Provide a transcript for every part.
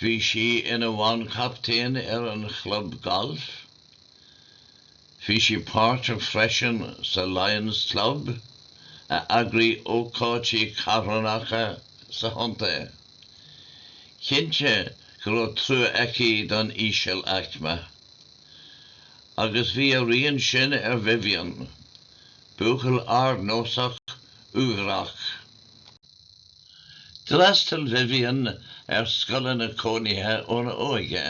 Bhí sí ina banchaptaen ar an chlub gailf. Bhí sí páirteach freisin sa Lions Club, a eagraigh ócáidí carthanacha sa chontae. Cinnte go raibh trua aici don íseal-aicme. Agus bhí a rian sin ar Vivian, buachaill ardnósach, uaibhreach. D'fhreastail Vivian ar scoileanna cónaithe óna óige.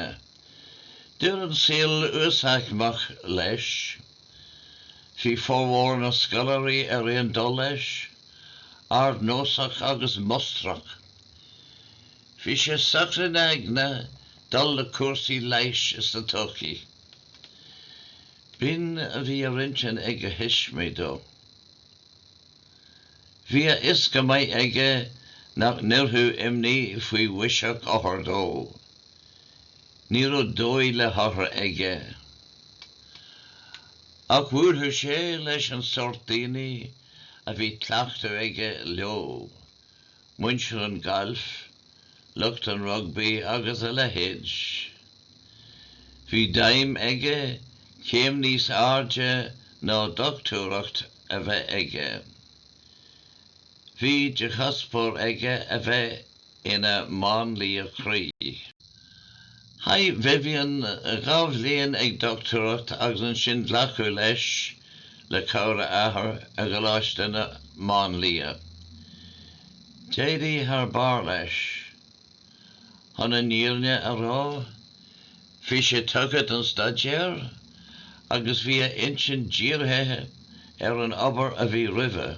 D'oir an saol uasaicmeach leis. Bhí formhór na scoláirí ar aon dul leis, ardnósach agus mustrach. Bhí sé socair ina aigne dul le cúrsaí leighis sa todhchaí. B'in a bhí ar intinn ag a thuismitheoirí dó. Bhí a fhios go maith aige nach n-oirfeadh imní faoi bhiseach othar dó. Ní raibh dóigh le hothar aige. Ach bhuailfeadh sé leis an sórt daoine a bhí cleachtadh aige leo, muintir an ghailf, lucht an rugbaí agus a leithéid. Bhí d'aidhm aige céim níos airde ná dochtúireacht a bheith aige. Bhí de chuspóir aige a bheith ina máinlia croí. Chaith Vivian dhá bhliain ag dochtúireacht agus ansin glacadh leis, le cabhair a athar, i gColáiste na Máinlianna. D'éirigh thar barr leis. Chun an fhírinne a rá, bhí sé tugtha don staidéar agus bhí a intinn dírithe ar an obair a bhí roimhe.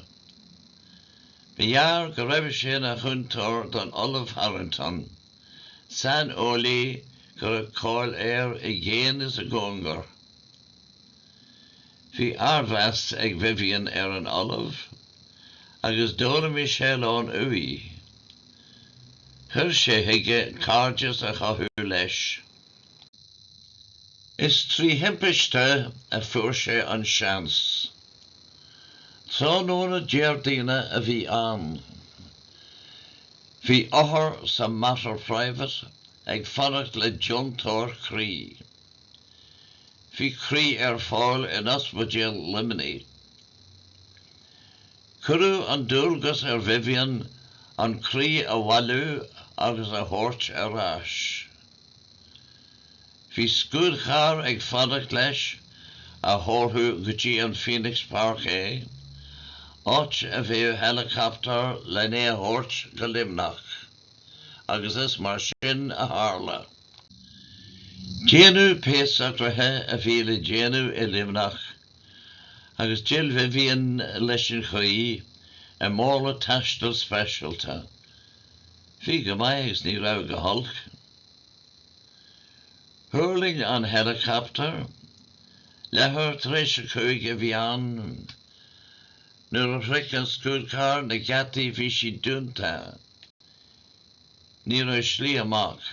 Ba ghearr go raibh sé ina chúntóir don Ollamh Harrington. saineolaí go raibh cáil air i gcéin is i gcóngar. Bhí ardmheas ag Vivian ar an Ollamh agus d'fhoghlaim sé a lán uaidh. Chuir sé chuige cairdeas a chothú leis. Is trí thimpiste a fuair sé an seans. Tráthnóna Déardaoine a bhí ann. Bhí othar sa Mater Private ag fanacht le deontóir croí. Bhí croí ar fáil in Ospidéal Luimnigh. Cuireadh an dualgas ar Vivian an croí a bhailiú agus a thabhairt ar ais. Bhí scúdchar ag fanacht leis a thabharfadh go dtí an Phoenix Park é, áit a bheadh heileacaptar lena a thabhairt go Luimneach, agus is mar sin a tharla. Déanadh pé socruithe a bhí le déanamh i Luimneach agus d'fhill Vivian leis an chaoi i mála taistil speisialta. Bhí go maith agus ní raibh go holc. Thuirling an heileacaptar. Leathuair tar éis a cúig a bhí ann. Nuair a shroich an scúdchar na geataí bhí siad dúnta. Ní raibh slí amach.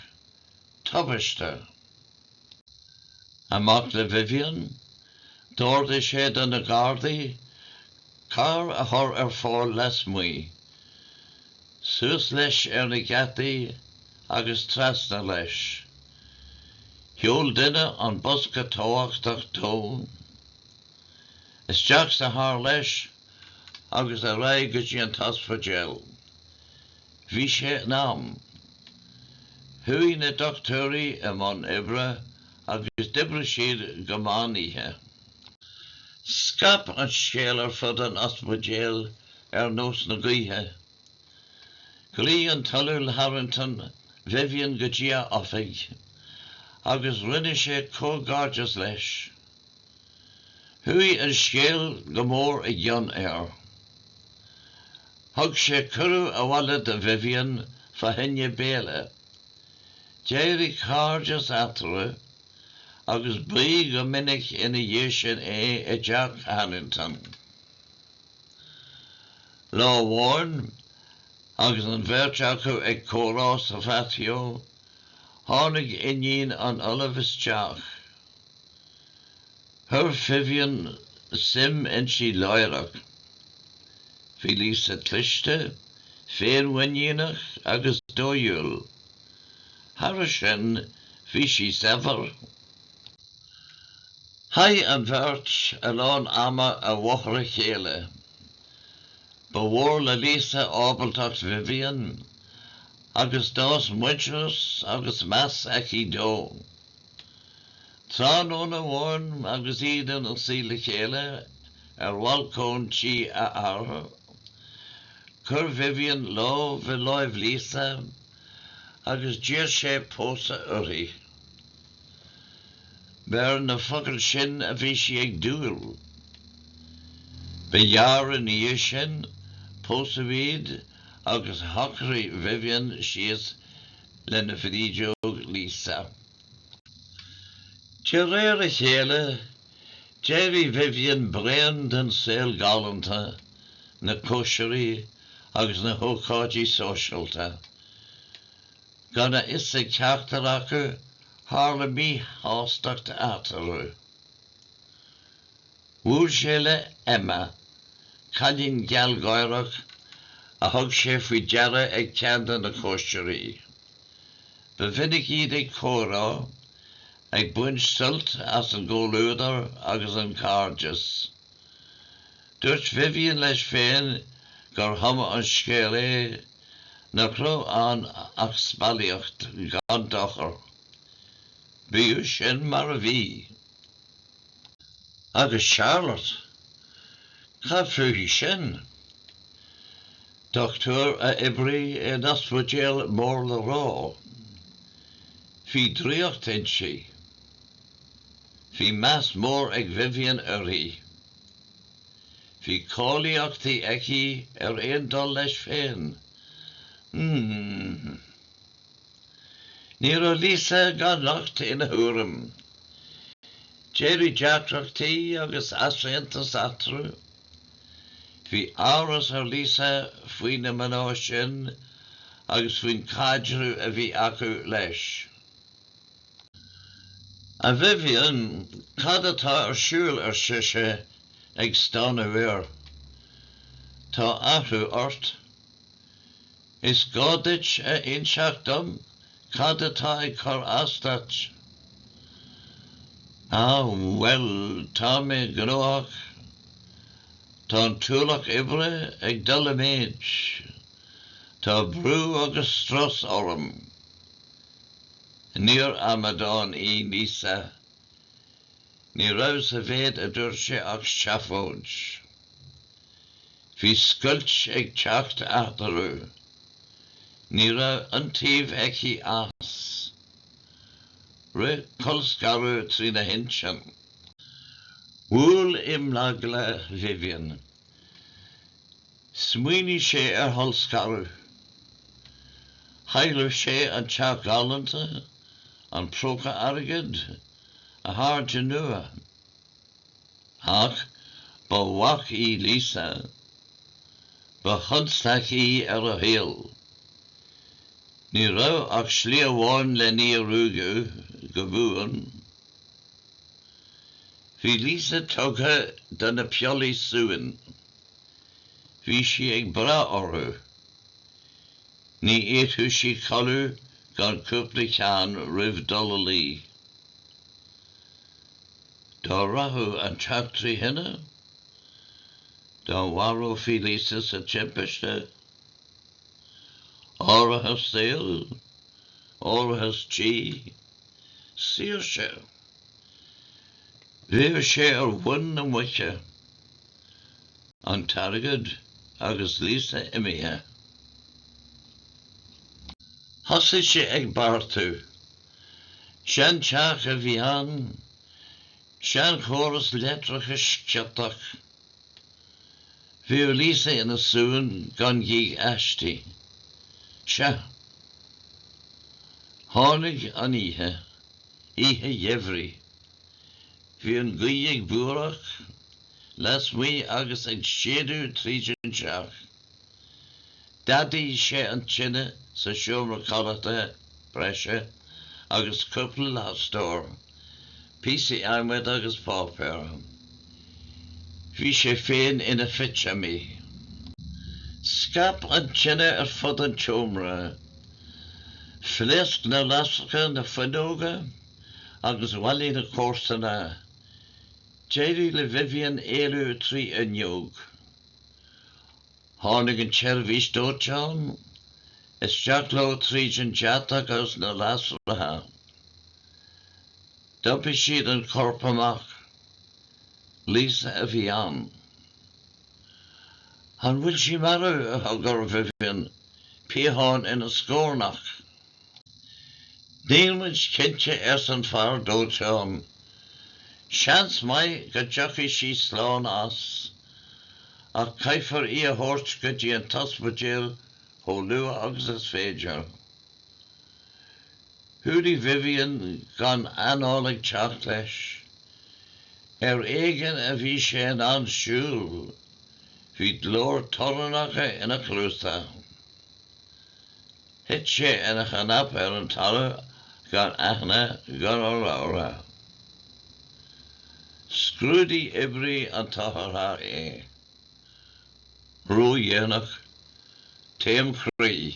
Tubaiste. Amach le Vivian, d'ordaigh sé do na Gardaí carr a chur ar fáil lasmuigh, suas leis ar na geataí agus trasna leis. Sheol duine an bosca tábhachtach dó isteach sa charr leis agus ar aghaidh go dtí an t-ospidéal. Bhí sé in am. Chuaigh na dochtúirí i mbun oibre agus d'oibrigh siad go meán oíche. Scaip an scéal ar fud an ospidéil ar nós na gaoithe. Ghlaoigh an tOllamh Harrington Vivian go dtí a oifig agus rinne sé comhghairdeas leis. Chuaigh an scéal go mór i gcion air. Thug sé cuireadh abhaile do Vivian fá choinne béile. D'éirigh cairdeas eatarthu agus ba go minic ina dhiaidh sin é i dteach Harrington. Lá amháin, agus an bheirt acu ag comhrá sa phatio, tháinig iníon an Ollaimh isteach. Chuir Vivion suim inti láithreach. Bhí Lisa cliste, féinmhuiníneach agus dóighiúil. Thairis sin, bhí sí saibhir. Chaith an bheirt a lán ama i bhfochair a chéile. Ba mhór le Lisa ábaltacht Vivion agus d'fhás muintearas agus meas aici dó. Tráthnóna amháin agus iad ina suí le chéile ar bhalcóin tí a hathar, chuir Vivian lámh i láimh Lisa agus d'iarr sé pósadh uirthi. Ba ar na focail sin a bhí sí ag dúil. Ba ghearr ina dhiaidh sin, pósadh iad agus shocraigh Vivian síos lena bhrídeog Lisa. De réir a chéile, d'éirigh Vivian bréan den saol galánta, na cóisirí agus na hócáidí sóisialta. Gan a fhios ag ceachtar acu, tharla míshástacht eatarthu. Bhuail sé le Emma, cailín gealgháireach a thug sé faoi deara ag ceann de na cóisirí. Ba mhinic iad ag comhrá, ag baint suilt as an gcomhluadar agus an cairdeas. Dúirt Vivian leis féin gur chuma an scéal é, nach raibh ann ach spallaíocht gan dochar. Bíodh sin mar a bhí. Agus Charlotte? Cad fúithi sin? Dochtúir a oibrigh in ospidéal mór le rá. Bhí draíocht inti. Bhí meas mór ag Vivian uirthi. Bhí cáilíochtaí aici ar aon dul leis féin. Ní raibh Lisa gan locht ina thuairim. D'éirigh deacrachtaí agus easaontas eatarthu. Bhí amhras ar Lisa faoi na mná sin agus faoin caidreamh a bhí acu leis. A Vivian, cad atá ar siúl, ar sise, ag stánadh air. Tá athrú ort. Is gá duit a inseacht dom cad atá ag cur as duit. Á, bhuel, tá mé gnóthach. Tá an t-ualach oibre ag dul i méid. Tá brú agus strus orm. Níor amadán í Lisa. Ní raibh sa mhéid a dúirt sé ach seafóid. Bhí scoilt ag teacht eatarthu. Ní raibh iontaoibh aici as. Rith colscaradh trína hintinn. Bhuail imeagla Vivian. Smaoinigh sé ar cholscaradh. Chaillfeadh sé an teach galánta, an próca airgid, a chairde nua. Ach ba bhac í Lisa. Ba chonstaic í ar a shaol. Ní raibh ach slí amháin lena ruaigeadh, go buan. Bhí Lisa tugtha do na piollaí suain. Bhí sí ag brath orthu. Ní fhéadfadh sí codladh gan cúpla ceann roimh dul a luí. Dá rachadh an teach trí thine? Dá mharófaí Lisa sa timpiste? Árachas saoil? Árachas tí? Saoirse? Bheadh sé ar mhuin na muice. an t-airgead agus Lisa imithe. Thosaigh sé ag beartú. Seanteach a bhí ann, seanchóras leictreachais ciotach. Bhíodh Lisa ina suan gan gíog aisti. Sea. Tháinig an oíche. Oíche gheimhridh. Bhí an ghaoth ag búireach lasmuigh agus ag séideadh tríd an teach. D'fhadaigh sé an tine sa seomra codlata breise agus cúpla lastóir, píosaí adhmaid agus páipéir. Bhí sé féin ina phitseamaí. Scaip an tine ar fud an tseomra. Phléasc na lasracha na fuinneoga. agus bhailigh na comharsana. D'éirigh le Vivian éalú trí fhuinneog. Tháinig an tseirbhís dóiteáin isteach leo tríd an deatach agus na lasracha. D'iompair siad an corp amach. Lisa a bhí ann. 'An bhfuil sí marbh? a d'fhiafraigh Vivian piachán ina scornach. Níl muid cinnte arsa an fear dóiteáin. Seans maith go dtiocfaidh sí slán as, ach caithfear í a thabhairt go dtí an t-ospidéal chomh luath agus is féidir. Chorraigh Vivian gan an anáil ag teacht leis. Ar éigean a bhí sé in ann siúl, bhí gleo torannach ina chluasa. Thit sé ina chnap ar an talamh gan aithne gan urlabhra. Scrúdaigh oibrí an otharchairr é. Ródhéanach. Taom croí.